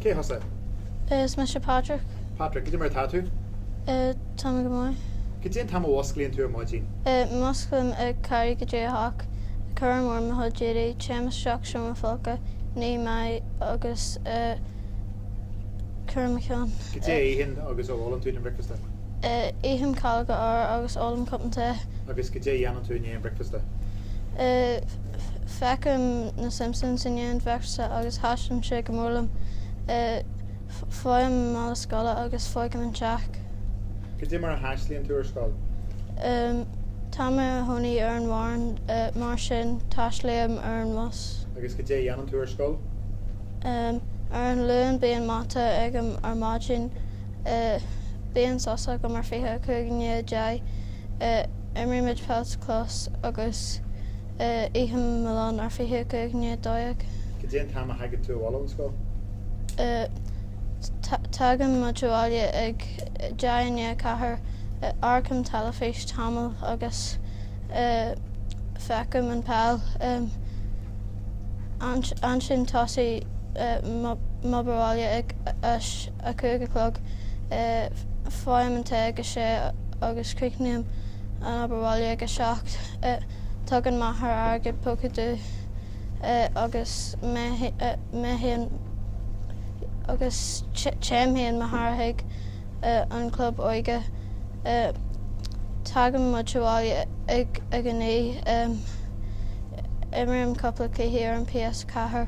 Cé thusa? Is mise Patrick. Patrick, goidé mar atá tú? Tá mé go maith. Goidé an t-am a musclaíonn tú ar maidin? Musclaím ag ceathrú go dtí a hocht, cuirim orm mo chuid éadaí, téim isteach seomra folctha, ním m'aghaidh agus cíoraim mo cheann. Goidé a itheann agus a ólann tú don bhricfeasta? Ithim calóga arbhair agus ólaim cupán tae. Agus goidé a dhéanann tú i ndiaidh an bricfeasta? Feicim na Simpsons i ndiaidh an bhricfeasta agus taitníonn sé go mór liom. Faighim mála scoile agus fágaim an teach. Goidé mar a thaistealaíonn tú ar scoil? Tá mé i mo chónaí ar an bhfoireann, mar sin taistealaím ar an bhus. Agus goidé a dhéanann tú ar scoil? Ar an Luan bíonn mata agam ar maidin. Bíonn sos agam ar 25 i ndiaidh a deich, imrímid peil sa chlós agus ithim mo lón ar 25 i ndiaidh a dó dhéag. Cad é an t-am a thagann tú abhaile ón scoil? Tagann muid abhaile ag deich i ndiaidh a ceathair, amharcaim teilifís tamall agus feicim an peil. Ansin tosaím m'obair bhaile ag a 5 a chlog. Faighim an tae ag a sé agus críochnaím an obair bhaile ag a seacht. Tugann m'athair airgead póca dúinn agus téann m'athair chuig an chlub óige. Tagann muid abhaile ag a naoi. Imrím cúpla cluichí ar an PS4.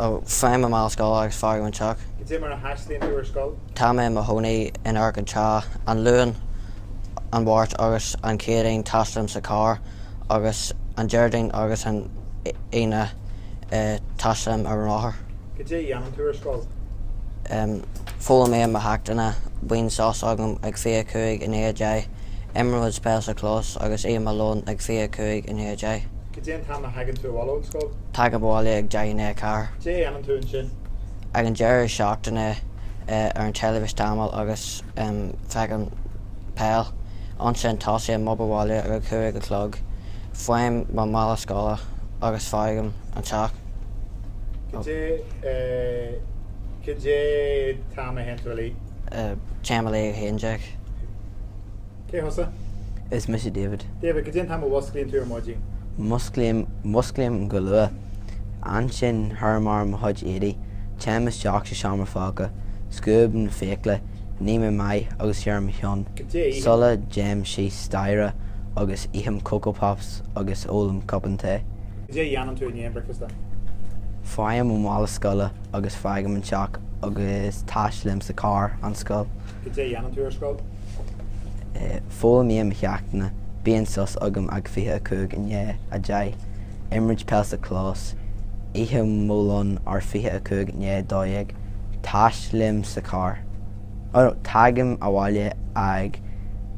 Faighim mo mhála scoile agus fágaim an teach. Cad é mar a thaistealaíonn tú ar scoil? Tá mé i mo chónaí in Arc an Chai. An Luan, an Mháirt agus an Chéadaoin taistealaím sa charr agus an Déardaoin agus an Aoine taistealaím ar an rothar. Cad é a dhéanann tú ar scoil? Foghlaimím mo cheachtanna, bíonn sos agam ag fiche a cúig i ndiaidh a deich, imrím peil sa chlós agus ithim mo lón ag fiche a cúig i ndiaidh a deich. Cad é an t-am a thagann tú abhaile ón scoil? Tagaim abhaile ag deich i ndiaidh a ceathair. Cé a fhanann tú ansin? Ag an deireadh seachtaine ar an teilifís tamall agus feicim peil. Ansin tosaím m'obair bhaile ag a cúig a chlog. Faighim mo mhála scoile agus fágaim an teach. Cad é Cad é t-am a théann tú a luí? Téim a luí ag a haon déag. Cé thusa? Is mise David. David, cad é an t-am a mhúsclaíonn tú ar maidin. Músclaím, músclaím go luath. Ansin, cuirim orm mo chuid éadaí, téim isteach sa seomra folctha, scuabaim na fiacla, ním m'aghaidh agus cíoraim mo cheann, Cad é a itheann. sula dtéim síos staighre agus ithim Coco Pops agus ólaim cupán tae. Cad é a dhéanann tú i ndiaidh an bhricfeasta. Faighim mo mhála scoile agus fágaim an teach agus taistealaím sa charr, an scoil. Cad é a dhéanann tú ar scoil. Foghlaimím mo cheachtanna, bíonn sos agam ag 25 i ndiaidh a deich, imrím peil sa chlós, ithim mo lón ag 25 i ndiaidh a dó dhéag, taistealaím sa charr, oh no, tagaim abhaile ag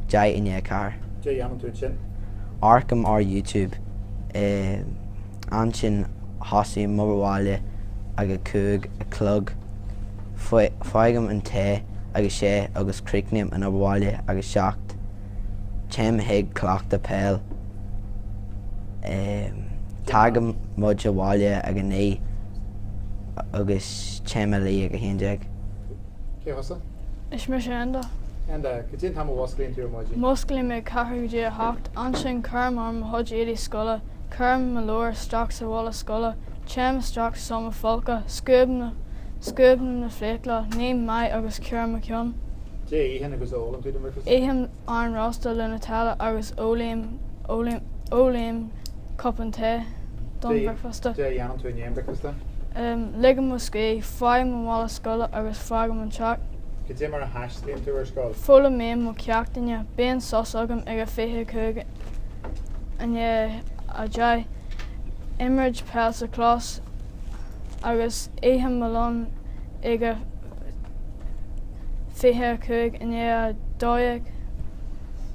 deich i ndiaidh a ceathair. Cad é a dhéanann tú ansin? Amharcaim ar YouTube. Ansin tosaím m'obair bhaile ag a cúig a chlog. Faighim an tae ag a sé agus críochnaím an obair bhaile ag a seacht. Téim chuig cleachtadh peile. Tagann muid abhaile ag a naoi agus téim a luí ag a haon déag. Cé thusa? Is mise Enda. Enda, cad é an t-am a mhúsclaíonn tú ar maidin? Músclaím ag ceathrú go dtí a hocht. Ansin cuirim orm mo chuid éadaí scoile. Cuirim mo leabhar isteach sa mhála scoile, téim isteach sa seomra folctha, scuabaim na fiacla, ním m'aghaidh agus cíoraim mo cheann. Cad é a itheann agus ólann tú don bhricfeasta? Ithim arán rósta le Nutella agus ólaim cupán tae don bhricfeasta. Cad é a dhéanann tú i ndiaidh an bhricfeasta? Ligim mo scíth, faighim mo mhála scoile agus fágaim an teach. Cad é mar a thaistealaíonn tú ar scoil? Foghlaimím mo cheachtanna, bíonn sos agam ag a 25 I ndiaidh a deich imrím peil sa chlós agus ithim mo lón ag a 25 i ndiaidh a dó dhéag.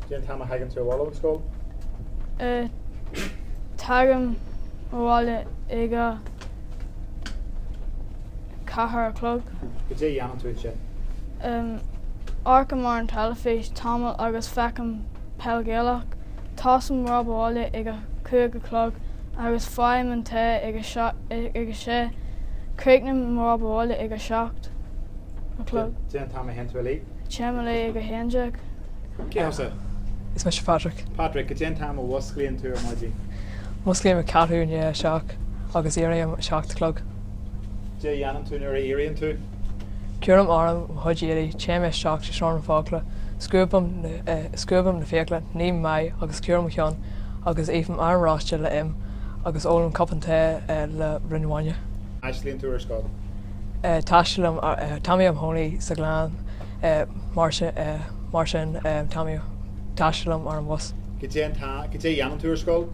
Cén t-am a thagann tú abhaile ón scoil? Tagaim abhaile ag a ceathair a chlog. Cad é a dhéanann tú ansin? Amharcaim ar an teilifís tamall agus feicim. Peil Ghaelach, tosaím m'obair bhaile ag a cúig a chlog agus faighim an tae ag a sé. Críochnaím m'obair bhaile ag a seacht a chlog. Cén t-am a théann tú a luí. Téim a luí ag a haon déag. Cé thusa? Is mise Patrick. Patrick, cad é an t-am a mhúsclaíonn tú ar maidin? Músclaím ag ceathrú i ndiaidh a seacht agus éirím ag a seacht a chlog. Cad é a dhéanann tú nuair a éiríonn tú? Cuirim orm mo chuid éadaí, téim isteach sa seomra folctha, scuabaim na fiacla, ním m'aghaidh agus cíoraim mo cheann agus ithim arán rósta le im agus ólaim cupán tae le braon bainne. Aisling, Tú ar scoil? Taistealaím, Táim i mo chónaí sa Ghleann, mar sin taistealaím ar an bhus. Cad é an Cad é a dhéanann tú ar scoil?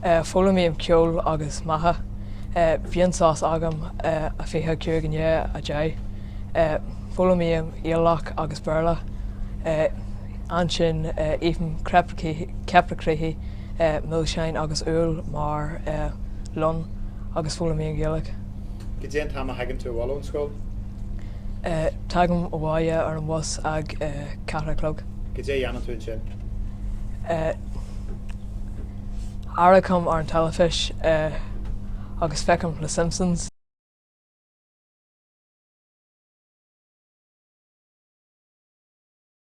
Foghlaimím ceol agus matha. Bíonn sos agam 25 i ndiaidh a, 10. Foghlaimím eolaíocht agus Béarla. Ansin ithim ceapaire, criospaí, milseáin agus úll mar lón agus foghlaimím Gaeilge. Cad é an t-am a thagann tú abhaile ón scoil? Tagaim abhaile ar an bhus ag a ceathair a chlog. Cad é a dhéanann tú ansin? Amharcaim ar an teilifís agus feicim na Simpsons.